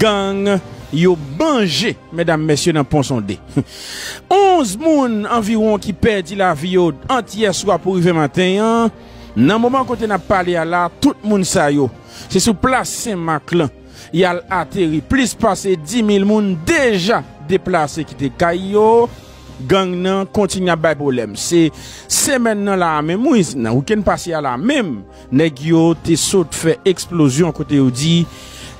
Gang yo manje medam mesye nan pon sonde. 11 moun anviwon ki pèdi lavi yo ant yè swa pou rive maten an. Nan moman kote nap pale a la tout moun sa yo se sou plas sen mak lan yal ateri plis pase 10 mil moun deja deplase kite kay yo gang nan kontinye ap bay pwoblèm se semèn nan la a menm wi nan wikenn pase a la menm. Nèg yo te sot fè eksplozyon kote yo di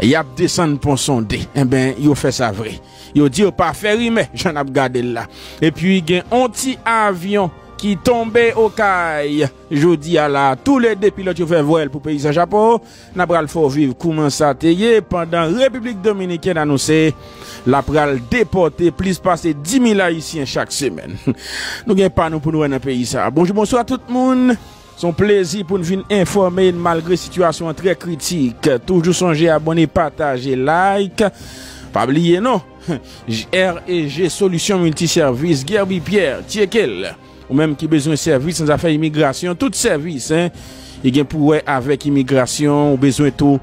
y ap desann pon Sonde. Enben, yo fè sa vre. Yo di yo pa fè rimè, jan n ap gade l la. Epi gen yon ti avyon ki tonbe Okay jodi a la. Toulede pilòt yo fè vwèl pou peyi San Chapo. N apral fè w viv kouman sa te ye pandan Repiblik Dominikèn anonse l apral depòte plis pase 10 mil Ayisyen chak semèn. Nou gen pa nou pou nou wè nan peyi sa a. Bonjou bonswa tout moun! Se yon plezi pou n vin enfòme n malgre sitiyasyon an trè kritik. Toujou sonje abone, pataje, like. Pa bliye non! JREG Solution Multi Service Guerby Pierre Tyeke l Ou menm ki bezwen sèvis nan zafè imigrasyon tout sèvis ki gen pou wè avèk imigrasyon ou bezwen tou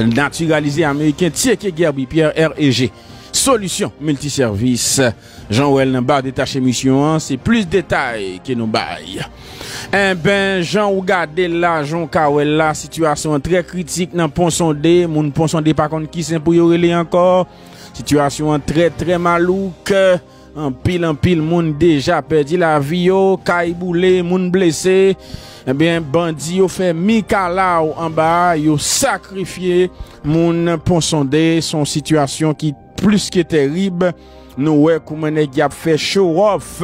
natiralize ameriken tyeke Guerby Pierre REG Solution Multi Service Jan wèl nan bar detache misyon an se plis detay ke nou bay. Enben jan ou gadel la jan ou ka wèl la sitiyasyon an trè kritik nan pon sonde moun pon sonde pa konn ki sen pou yo rele ankò sitiyasyon an trè trè malouk anpil anpil moun deja pèdi lavi yo kay boule moun blese enben bandi yo fè mikalaw anba yo sakrifye moun pon sonde son sitiyasyon ki Plis ke terib, nou wè kouman nèg y ap fè show off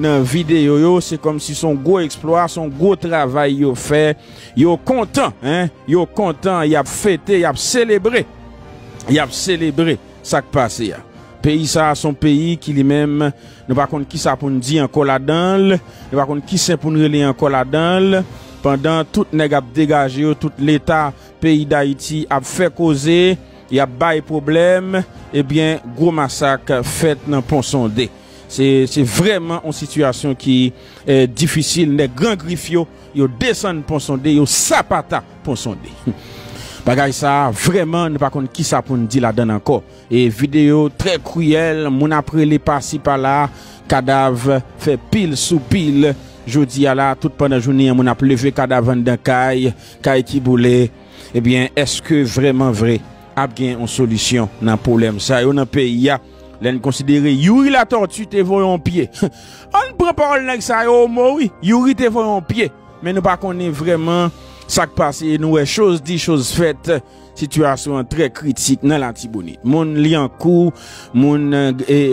nan videyo yo, se kòmsi son gwo eksplwa, son gwo travay yo fè, yo kontan, hein, yo kontan, y ap fete, y ap selebre, y ap selebre sa k pase a. Peyi sa a son peyi ki li menm, nou pa konn kisa pou n di ankò ladan l, nou pa konn ki sen pou n rele ankò ladan l, pandan tout nèg ap degaje yo, tout leta peyi Dayiti ap fè koze, Yap bay pwoblèm ebyen gwo masak fèt nan pon sonde se vrèman yon sitiyasyon ki difisil nèg gran grif yo yo desann pon sonde yo sapata pon sonde bagay sa vrèman nou pa konn kisa poun di ladann ankò e videyo trè kriyèl moun ap rele pasi pala kadav fè pil sou pil jodi a la tout pandan jounen an moun ap leve kadav anndan kay kay ki boule. Ebyen eske vreman vre ap gen yon solisyon nan pwolèm sa yo nan peyi a lèn konsidere youri latortue te voye yon pye ann pran pawòl nèg sa yo omo wi youri te voye yon pye men nou pa konnen vreman sak pase e nou wè choz di choz fèt sitiyasyon an trè kritik nan latibonit moun lyankou moun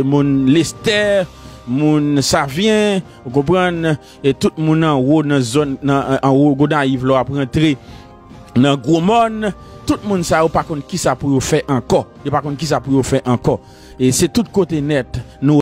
moun lestè moun savyen ou konprann. E tout moun anwo nan zòn anwo Gonayiv la w ap rantre nan Gwo Mòn. Tout moun sa yo pa konn kisa pou yo fè ankò. Yo pa konn kisa pou yo fè ankò. E se tout kote nèt nou.